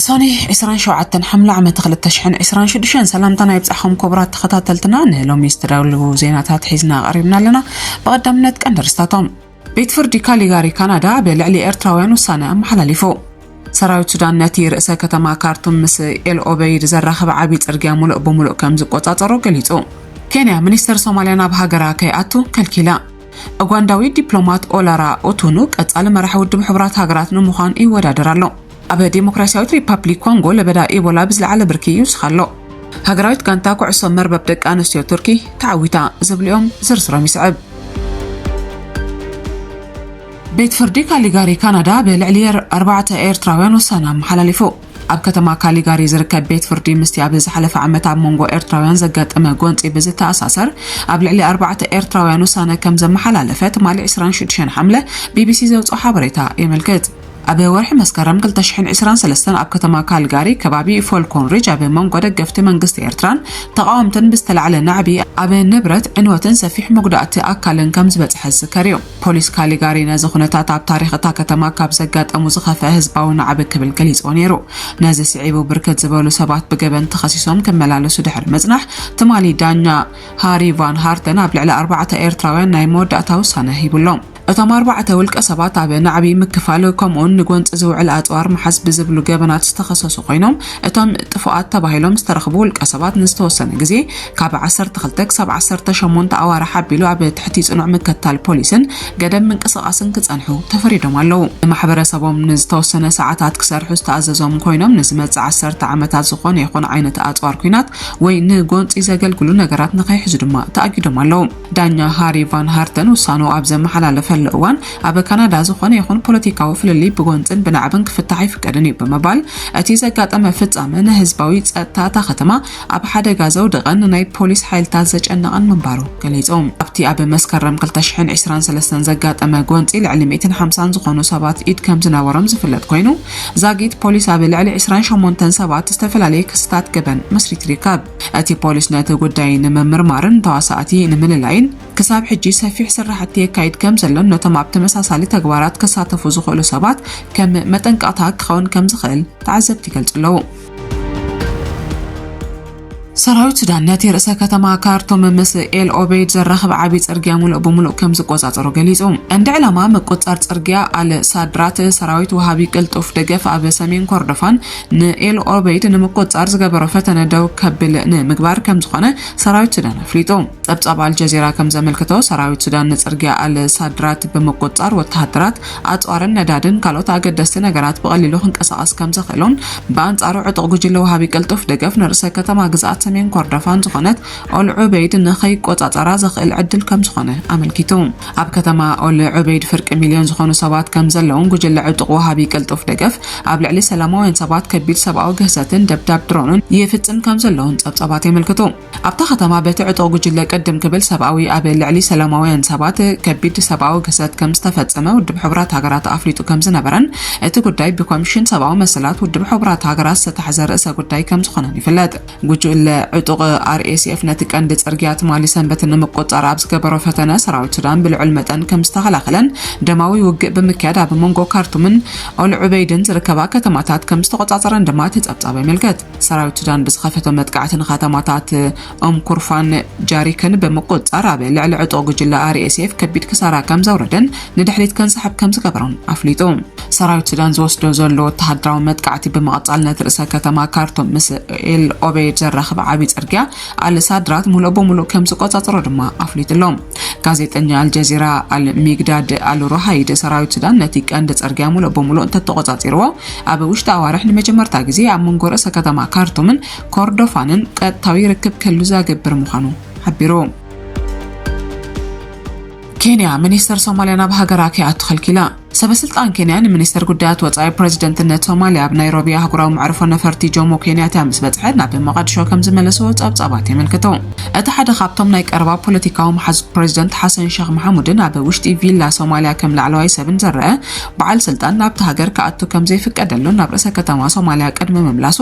ሰኔ 27 ሓምለ ዓመት 2026 ሰላምታና ይብጻሕኹም ክቡራት ተኸታተልትና ንሎሚ ዝተዳለዉ ዜናታት ሒዝና ቀሪብና ኣለና። ብቐዳምነት ቀንዲ ርስታቶም ቤት ፍርዲ ካሊጋሪ ካናዳ ብልዕሊ ኤርትራውያን ውሳነ ኣመሓላሊፉ። ሰራዊት ሱዳን ነቲ ርእሰ ከተማ ካርቱም ምስ ኤል ኦበይድ ዘራኽብ ዓብዪ ጽርግያ ሙሉእ ብሙሉእ ከም ዝቆጻጸሮ ገሊጹ። ኬንያ ሚኒስተር ሶማልያ ናብ ሃገራ ከይኣቱ ከልኪላ። ኡጋንዳዊ ዲፕሎማት ኦላራ ኡቱኑ ቀጻሊ መራሒ ውድብ ሕቡራት ሃገራት ንምዃን ይወዳደር ኣሎ። ኣብ ዴሞክራሲያዊት ሪፓፕሊክ ኮንጎ ለበዳ ኢቦላ ብዝለዓለ ብርኪ ይውስኽ ኣሎ። ሃገራዊት ጋንታ ኩዕሶ መርበብ ደቂ ኣንስትዮ ቱርኪ ተዓዊታ ዝብል'ዮም፣ ዝርዝሮም ይስዕብ። ቤት ፍርዲ ካሊጋሪ ካናዳ ብልዕሊ ኣርባዕተ ኤርትራውያን ውሳነ ኣመሓላሊፉ። ኣብ ከተማ ካሊጋሪ ዝርከብ ቤት ፍርዲ ምስቲ ኣብ ዝሓለፈ ዓመት ኣብ መንጎ ኤርትራውያን ዘጋጠመ ጎንጺ ብዝተኣሳሰር ኣብ ልዕሊ ኣርባዕተ ኤርትራውያን ውሳነ ከም ዘመሓላለፈ ትማሊ 26 ሓምለ ቢቢሲ ዘውጽኦ ሓበሬታ የመልክት። ኣብ ወርሒ መስከረም ክልተ ሽሕን ዕስራን ሰለስተን ኣብ ከተማ ካልጋሪ ከባቢ ፎልኮን ሪጅ ኣብ መንጎ ደገፍቲ መንግስቲ ኤርትራን ተቓወምትን ብዝተላዕለ ናዕቢ ኣብ ንብረት ዕንወትን ሰፊሕ መጉዳእቲ ኣካልን ከም ዝበጽሐ ዝዝከር እዩ። ፖሊስ ካሊጋሪ ነዚ ኩነታት ኣብ ታሪኽ እታ ከተማ ካብ ዘጋጠሙ ዝኸፍአ ህዝባዊ ናዕቢ ክብል ገሊጽዎ ነይሩ። ነዚ ስዒቡ ብርክት ዝበሉ ሰባት ብገበን ተኸሲሶም ክመላለሱ ድሕሪ ምጽናሕ ትማሊ ዳኛ ሃሪ ቫን ሃርተን ኣብ ልዕሊ ኣርባዕተ ኤርትራውያን ናይ መወዳእታ ውሳነ ሂቡሎም። እቶም ኣርባዕተ ውልቀ ሰባት ኣብ ናዕቢ ምክፋል ከምኡውን ንጎንፂ ዝውዕል ኣፅዋር ምሓዝ ብዝብሉ ገበናት ዝተኸሰሱ ኮይኖም እቶም ጥፉኣት ተባሂሎም ዝተረኽቡ ውልቀ ሰባት ንዝተወሰነ ግዜ ካብ ዓሰርተ ክልተ ክሳብ ዓሰርተ ሸሞንተ ኣዋርሕ ኣቢሉ ኣብ ትሕቲ ፅኑዕ ምከታል ፖሊስን ገደብ ምንቅስቓስን ክፀንሑ ተፈሪዶም ኣለዉ። ንማሕበረሰቦም ንዝተወሰነ ሰዓታት ክሰርሑ ዝተኣዘዞም ኮይኖም ንዝመፅእ ዓሰርተ ዓመታት ዝኾነ ይኹን ዓይነት ኣፅዋር ኲናት ወይ ንጎንፂ ዘገልግሉ ነገራት ንከይሕዙ ድማ ተኣጊዶም ኣለዉ። ዳኛ ሃሪ ቫን ሃርተን ውሳንኡ ኣብ ዘመሓላለፈሉ እዋን ኣብ ካናዳ ዝኾነ ይኹን ፖለቲካዊ ፍልልይ ብጎንፅን ብናዕብን ክፍታሕ ኣይፍቀድን እዩ ብምባል እቲ ዘጋጠመ ፍፃመ ንህዝባዊ ፀጥታ እታ ከተማ ኣብ ሓደጋ ዘውደቐን ንናይ ፖሊስ ሓይልታት ዘጨነቐን ምንባሩ ገሊፆም። ኣብቲ ኣብ መስከረም 2023 ዘጋጠመ ጎንፂ ልዕሊ 150 ዝኾኑ ሰባት ኢድ ከም ዝነበሮም ዝፍለጥ ኮይኑ ዛጊት ፖሊስ ኣብ ልዕሊ 28 ሰባት ዝተፈላለየ ክስታት ገበን መስሪቱ ይርከብ። እቲ ፖሊስ ነቲ ጉዳይ ንምምርማርን ተዋሳእቲ ንምልላይን ክሳብ ሕጂ ሰፊሕ ስራሕቲ የካይድ ከም ዘሎን ነቶም ኣብ ተመሳሳሊ ተግባራት ክሳተፉ ዝኽእሉ ሰባት ከም መጠንቀቕታ ክኸውን ከም ዝኽእል ተዓዘብቲ ይገልጹ ኣለዉ። ሰራዊት ሱዳን ነቲ ርእሰ ከተማ ካርቱም ምስ ኤል ኦበይድ ዘራኽብ ዓብዪ ጽርግያ ምሉእ ብምሉእ ከም ዝቆጻጸሮ ገሊጹ። ቀንዲ ዕላማ ምቁጽጻር ጽርግያ ኣል ሳድራት ሰራዊት ወሃቢ ቅልጡፍ ደገፍ ኣብ ሰሜን ኮርዶፋን ንኤል ኦበይድ ንምቁፅፃር ዝገበሮ ፈተነ ደው ከብል ንምግባር ከምዝኾነ ሰራዊት ሱዳን ኣፍሊጡ። ፀብፃብ ኣልጀዚራ ከምዘመልክቶ ሰራዊት ሱዳን ንፅርግያ ኣል ሳድራት ብምቁፅፃር ወተሃደራት፣ ኣፅዋርን ነዳድን ካልኦት ኣገደስቲ ነገራት ብቐሊሉ ክንቀሳቐስ ከምዘኽእሎን ብኣንፃሩ ዕጡቕ ጉጅለ ወሃቢ ቅልጡፍ ደገፍ ንርእሰ ከተማ ግዝኣት ሰሜን ኮርዶፋን ዝኾነት ኦል ዑበይድ ንኸይቆፃፀራ ዘኽእል ዕድል ከምዝኾነ ኣመልኪቱ። ኣብ ከተማ ኦል ዑበይድ ፍርቂ ሚልዮን ዝኾኑ ሰባት ከምዘለውን ጉጅለ ዕጡቕ ወሃቢ ቅልጡፍ ደገፍ ኣብ ልዕሊ ሰላማውያን ሰባት ከቢድ ሰብኣዊ ግህሰትን ደብዳብ ድሮንን ይፍፅም ከምዘሎውን ፀብፃባት የመልክቱ። ኣብታ ከተማ በቲ ዕጡቕ ጉጅለ ቅድም ክብል ሰብኣዊ ኣብ ልዕሊ ሰላማውያን ሰባት ከቢድ ሰብኣዊ ግህሰት ከምዝተፈፀመ ውድብ ሕቡራት ሃገራት ኣፍሊጡ ከምዝነበረን እቲ ጉዳይ ብኮሚሽን ሰብኣዊ መሰላት ውድብ ሕቡራት ሃገራት ዝተታሕዘ ርእሰ ጉዳይ ከምዝኾነን ይፍለጥ። ጉጅለ ዕጡቕ RSF ነቲ ቀንዲ ጽርግያ ትማሊ ሰንበት ንምቁጽጻር ኣብ ዝገበሮ ፈተነ ሰራዊት ሱዳን ብልዑል መጠን ከም ዝተኸላኸለን ደማዊ ውግእ ብምክያድ ኣብ መንጎ ካርቱምን ኦል ዑበይድን ዝርከባ ከተማታት ከም ዝተቖጻጸረን ድማ እቲ ጸብጻብ የመልከት። ሰራዊት ሱዳን ብዝኸፈቶ መጥቃዕቲ ንከተማታት ኦም ኩርፋን ጃሪክን ብምቁጽጻር ኣብ ልዕሊ ዕጡቕ ጉጅለ RSF ከቢድ ክሳራ ከም ዘውረደን ንድሕሪት ከንሳሕብ ከም ዝገበሮን ኣፍሊጡ። ሰራዊት ሱዳን ዝወስዶ ዘሎ ወተሃደራዊ መጥቃዕቲ ብምቕጻል ነቲ ርእሰ ከተማ ካርቱም ምስ ኤል ኦቤድ ዘራኽብ ዓብዪ ጽርግያ ኣልሳድራት ሙሉእ ብሙሉእ ከም ዝቆጻጽሮ ድማ ኣፍሊጡ ኣሎ ጋዜጠኛ ኣልጀዚራ ኣልሚግዳድ ኣልሮሃይድ ሰራዊት ሱዳን ነቲ ቀንዲ ጽርግያ ሙሉእ ብሙሉእ እንተተቆጻጺርዎ ኣብ ውሽጢ ኣዋርሕ ንመጀመርታ ግዜ ኣብ መንጎ ርእሰ ከተማ ካርቱምን ኮርዶፋንን ቀጥታዊ ርክብ ክህሉ ዘገብር ምዃኑ ሓቢሩ። ኬንያ ሚኒስተር ሶማልያ ናብ ሃገራ ከይኣቱ ከልኪላ ሰበስልጣን ኬንያ ንሚኒስተር ጉዳያት ወጻኢ ፕረዚደንትነት ሶማልያ ኣብ ናይሮቢ ኣህጉራዊ መዕርፎ ነፈርቲ ጆሞ ኬንያታ ምስ በጽሐ ናብ መቓድሾ ከም ዝመለስዎ ጸብጻባት የመልክቱ። እቲ ሓደ ካብቶም ናይ ቀረባ ፖለቲካዊ መሓዙት ፕረዚደንት ሓሰን ሸኽ መሓሙድን ኣብ ውሽጢ ቪላ ሶማልያ ከም ላዕለዋይ ሰብን ዝረኣ በዓል ስልጣን ናብታ ሃገር ክኣቱ ከም ዘይፍቀደሉን ናብ ርእሰ ከተማ ሶማልያ ቅድሚ ምምላሱ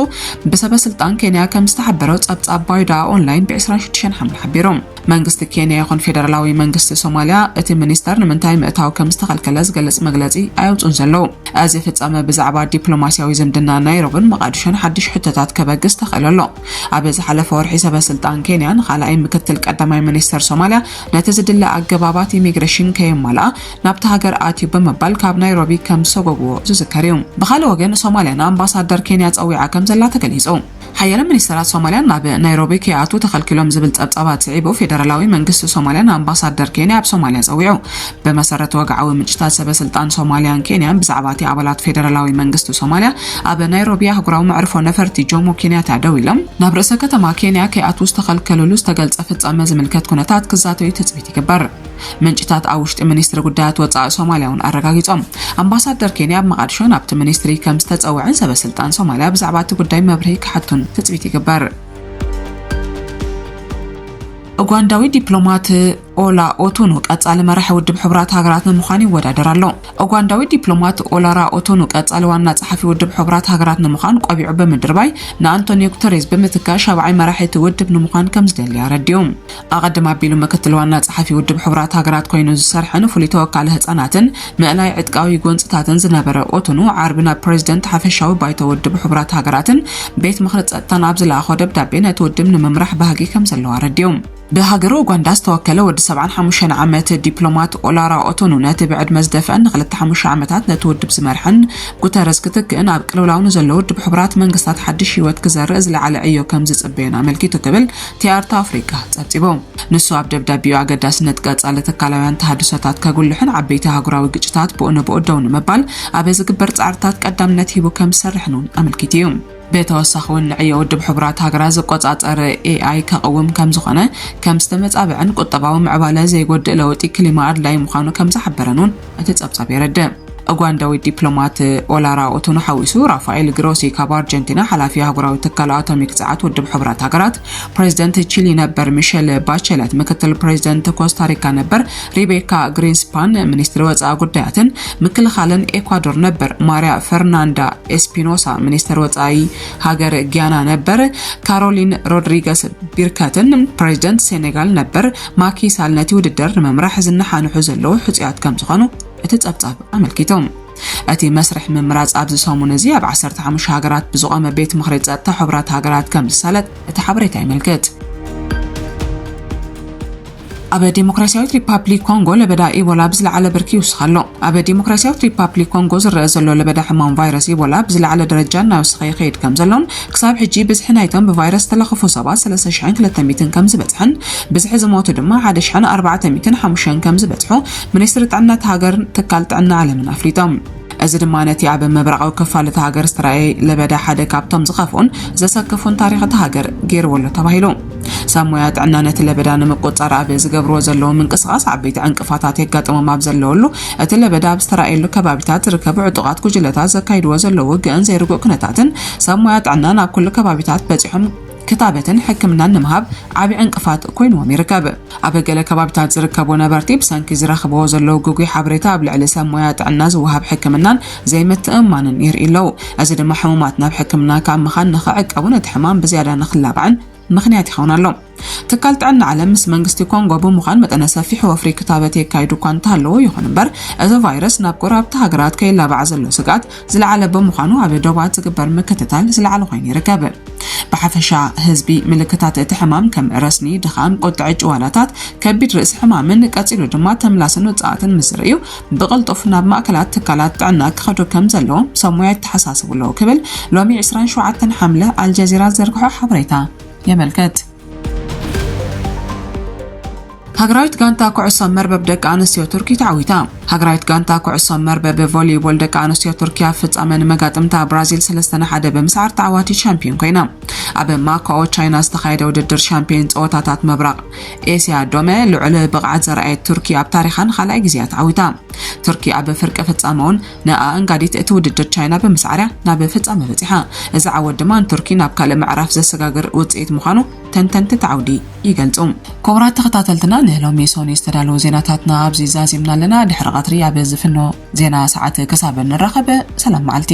ብሰበስልጣን ኬንያ ከም ዝተሓበሮ ጸብጻብ ባይዳ ኦንላይን ብ26 ሓምለ ሓቢሩ። መንግስቲ ኬንያ ይኹን ፌደራላዊ መንግስቲ ሶማልያ እቲ ሚኒስተር ንምንታይ ምእታው ከም ዝተኸልከለ ዝገልጽ መግለጺ ኣየውጽኡን ዘለዉ። እዚ ፍጻመ ብዛዕባ ዲፕሎማስያዊ ዝምድና ናይሮብን መቓድሾን ሓድሽ ሕቶታት ከበግስ ተኽእሎ ኣሎ። ኣብ ዝሓለፈ ወርሒ ሰበስልጣን ኬንያ ንኻልኣይ ምክትል ቀዳማይ ሚኒስተር ሶማልያ ነቲ ዝድለ ኣገባባት ኢሚግረሽን ከየማልኣ ናብታ ሃገር ኣትዩ ብምባል ካብ ናይሮቢ ከም ዝሰጎጉዎ ዝዝከር እዩ። ብኻልእ ወገን ሶማልያ ንኣምባሳደር ኬንያ ጸዊዓ ከም ዘላ ተገሊጹ። ሓያለ ሚኒስተራት ሶማልያ ናብ ናይሮቢ ከይኣትዉ ተኸልኪሎም ዝብል ጸብጻባት ስዒቡ ፌደራላዊ መንግስቲ ሶማልያ ንኣምባሳደር ኬንያ ኣብ ሶማልያ ጸዊዑ። ብመሰረት ወግዓዊ ምንጭታት ሰበ ስልጣን ሶማልያን ኬንያን ብዛዕባ'ቲ ኣባላት ፌደራላዊ መንግስቲ ሶማልያ ኣብ ናይሮቢ ኣህጉራዊ መዕርፎ ነፈርቲ ጆሞ ኬንያታ ደው ኢሎም ናብ ርእሰ ከተማ ኬንያ ከይኣትዉ ዝተኸልከልሉ ዝተገልጸ ፍጻመ ዝምልከት ኩነታት ክዛተዩ ትጽቢት ይግበር። ምንጭታት ኣብ ውሽጢ ሚኒስትሪ ጉዳያት ወፃኢ ሶማልያ እውን ኣረጋጊፆም ኣምባሳደር ኬንያ ኣብ መቓድሾ ናብቲ ሚኒስትሪ ከም ዝተፀውዐን ሰበስልጣን ሶማልያ ብዛዕባ እቲ ጉዳይ መብርሂ ክሓቱን ትፅቢት ይግበር ኡጋንዳዊ ዲፕሎማት ኦላ ኦቱኑ ቀጻሊ መራሒ ውድብ ሕቡራት ሃገራት ንምዃን ይወዳደር ኣሎ። ኡጋንዳዊ ዲፕሎማት ኦላራ ኦቱኑ ቀጻሊ ዋና ጸሓፊ ውድብ ሕቡራት ሃገራት ንምዃን ቆቢዑ ብምድርባይ ንኣንቶኒዮ ጉተሬዝ ብምትካእ ሻብዓይ መራሒ እቲ ውድብ ንምዃን ከም ዝደሊ ኣረዲኡ። ኣቐድም ኣቢሉ ምክትል ዋና ጸሓፊ ውድብ ሕቡራት ሃገራት ኮይኑ ዝሰርሐን ፍሉይ ተወካሊ ህጻናትን ምእላይ ዕጥቃዊ ጎንጽታትን ዝነበረ ኦቶኑ ዓርቢ ናብ ፕሬዚደንት ሓፈሻዊ ባይቶ ውድብ ሕቡራት ሃገራትን ቤት ምኽሪ ጸጥታን ኣብ ዝለኣኾ ደብዳቤ ነቲ ውድብ ንምምራሕ ባህጊ ከም ዘለዎ ኣረዲኡ። ብሃገረ ኡጋንዳ ዝተወከለ ወዲ 75 ዓመት ዲፕሎማት ኦላራ ኦቶኑ ነቲ ብዕድመ ዝደፍአን ንክልተ ሓሙሽተ ዓመታት ነቲ ውድብ ዝመርሐን ጉተረዝ ክትክእን ኣብ ቅልውላው ንዘሎ ውድብ ሕቡራት መንግስታት ሓድሽ ህይወት ክዘርእ ዝለዓለ ዕዮ ከም ዝጽበዮን ኣመልኪቱ ክብል ቲያርት ኣፍሪቃ ጸብጺቡ። ንሱ ኣብ ደብዳቤኡ ኣገዳስነት ቀጻሊ ትካላውያን ተሃድሶታት ከጉልሕን ዓበይቲ ኣህጉራዊ ግጭታት ብኡ ንብኡ ደው ንምባል ኣብ ዝግበር ጻዕርታት ቀዳምነት ሂቡ ከም ዝሰርሕን እውን ኣመልኪቱ እዩ። ብተወሳኺ እውን ንዕዮ ውድብ ሕቡራት ሃገራት ዝቆጻጸር ኤኣይ ከቕውም ከም ዝኾነ፣ ከም ዝተመጻበዐን ቁጠባዊ ምዕባለ ዘይጎድእ ለውጢ ክሊማ ኣድላዪ ምዃኑ ከም ዝሓበረን እውን እቲ ጸብጻብ የረድእ። ኡጋንዳዊት ዲፕሎማት ኦላራ ኦቶኖ ሓዊሱ ራፋኤል ግሮሲ ካብ ኣርጀንቲና ሓላፊ ኣህጉራዊ ትካል ኣቶሚክ ጸዓት ውድብ ሕቡራት ሃገራት፣ ፕሬዚደንት ቺሊ ነበር ሚሸል ባቸለት፣ ምክትል ፕሬዚደንት ኮስታሪካ ነበር ሪቤካ ግሪንስፓን፣ ሚኒስትሪ ወጻኢ ጉዳያትን ምክልኻልን ኤኳዶር ነበር ማርያ ፈርናንዳ ኤስፒኖሳ፣ ሚኒስተር ወጻኢ ሃገር ጊያና ነበር ካሮሊን ሮድሪገስ ቢርከትን ፕሬዚደንት ሴኔጋል ነበር ማኪ ሳል ነቲ ውድድር ንምምራሕ ዝነሓንሑ ዘለዉ ሕጹያት ከም ዝኾኑ እቲ ጸብጻብ ኣመልኪቱ። እቲ መስርሕ ምምራጽ ኣብዚ ሰሙን እዚ ኣብ 15 ሃገራት ብዝቖመ ቤት ምኽሪ ጸጥታ ሕቡራት ሃገራት ከም ዝሳለጥ እቲ ሓበሬታ የመልክት። ኣብ ዴሞክራሲያዊት ሪፓብሊክ ኮንጎ ለበዳ ኢቦላ ብዝለዓለ ብርኪ ይውስኽ ኣሎ። ኣብ ዲሞክራስያዊት ሪፓፕሊክ ኮንጎ ዝረኣ ዘሎ ለበዳ ሕማም ቫይረስ ኢቦላ ብዝለዓለ ደረጃ እናወሰኸ ይኸይድ ከምዘሎን ክሳብ ሕጂ ብዝሒ ናይቶም ብቫይረስ ዝተለኽፉ ሰባት ሰለስተ ሽሕን ክልተ ሚእትን ከምዝበጽሐን ብዝሒ ዝሞቱ ድማ ሓደ ሽሕን ኣርባዕተ ሚእትን ሓሙሽተን ከምዝበጽሑ ሚኒስትሪ ጥዕና እታ ሃገርን ትካል ጥዕና ዓለምን ኣፍሊጦም። እዚ ድማ ነቲ ኣብ ምብራቓዊ ክፋል እታ ሃገር ዝተራእየ ለበዳ ሓደ ካብቶም ዝኸፍኡን ዘሰክፉን ታሪኽ እታ ሃገር ገይርዎ ኣሎ ተባሂሉ። ሰብ ሞያ ጥዕና ነቲ ለበዳ ንምቁፅፃር ኣብ ዝገብርዎ ዘለዉ ምንቅስቓስ ዓበይቲ ዕንቅፋታት የጋጥሞም ኣብ ዘለወሉ እቲ ለበዳ ኣብ ዝተራእየሉ ከባቢታት ዝርከቡ ዕጡቓት ጉጅለታት ዘካይድዎ ዘለዉ ውግእን ዘይርጉእ ኩነታትን ሰብ ሞያ ጥዕና ናብ ኩሉ ከባቢታት በፂሖም ክታበትን ሕክምናን ንምሃብ ዓብዪ ዕንቅፋት ኮይንዎም ይርከብ። ኣብ ገለ ከባቢታት ዝርከቡ ነበርቲ ብሰንኪ ዝረኽብዎ ዘለዉ ግጉይ ሓበሬታ ኣብ ልዕሊ ሰብ ሞያ ጥዕና ዝወሃብ ሕክምናን ዘይምትእምማንን የርእዩ ኣለዉ። እዚ ድማ ሕሙማት ናብ ሕክምና ካብ ምኻድ ንኽዕቀቡን እቲ ሕማም ብዝያዳ ንኽላባዕን ምኽንያት ይኸውን ኣሎ። ትካል ጥዕና ዓለም ምስ መንግስቲ ኮንጎ ብምዃን መጠነ ሰፊሕ ወፍሪ ክታበት የካይዱ እኳ እንተሃለዉ፣ ይኹን እምበር እዚ ቫይረስ ናብ ጎረባብቲ ሃገራት ከይላባዕ ዘሎ ስግኣት ዝለዓለ ብምዃኑ ኣብ ዶባት ዝግበር ምክትታል ዝለዓለ ኮይኑ ይርከብ። ብሓፈሻ ህዝቢ ምልክታት እቲ ሕማም ከም ረስኒ፣ ድኻም፣ ቁጥዐ ጭዋዳታት፣ ከቢድ ርእሲ ሕማምን ቀጺሉ ድማ ተምላስን ውጽኣትን ምስ ርእዩ ብቕልጡፍ ናብ ማእከላት ትካላት ጥዕና ክኸዱ ከም ዘለዎም ሰብ ሞያ የተሓሳስቡ ኣለዉ ክብል ሎሚ 27 ሓምለ ኣልጀዚራ ዝዘርግሖ ሓበሬታ የመልክት። ሃገራዊት ጋንታ ኩዕሶ መርበብ ደቂ ኣንስትዮ ቱርኪ ተዓዊታ። ሃገራዊት ጋንታ ኩዕሶ መርበብ ቮሊቦል ደቂ ኣንስትዮ ቱርኪ ኣብ ፍጻመ ንመጋጥምታ ብራዚል 3 ንሓደ ብምስዓር ተዓዋቲት ሻምፒዮን ኮይና። ኣብ ማካኦ ቻይና ዝተኻየደ ውድድር ሻምፒዮን ጸወታታት ምብራቕ ኤስያ ዶመ ልዑል ብቕዓት ዘርኣየት ቱርኪ ኣብ ታሪኻን ካልኣይ ግዜያ ተዓዊታ። ቱርኪ ኣብ ፍርቂ ፍጻመ እውን ንኣኣንጋዲት እቲ ውድድር ቻይና ብምስዓር'ያ ናብ ፍጻመ በጺሓ። እዚ ዓወት ድማ ንቱርኪ ናብ ካልእ ምዕራፍ ዘሰጋግር ውጽኢት ምዃኑ ተንተንቲ እቲ ዓውዲ ይገልጹ። ክቡራት ተኸታተልትና ንሎሚ ሶኑይ ዝተዳለዉ ዜናታትና ኣብዚ ዛዚምና ኣለና። ድሕሪ ቐትሪ ኣብ ዝፍኖ ዜና ሰዓት ክሳብ ንራኸብ ሰላም መዓልቲ።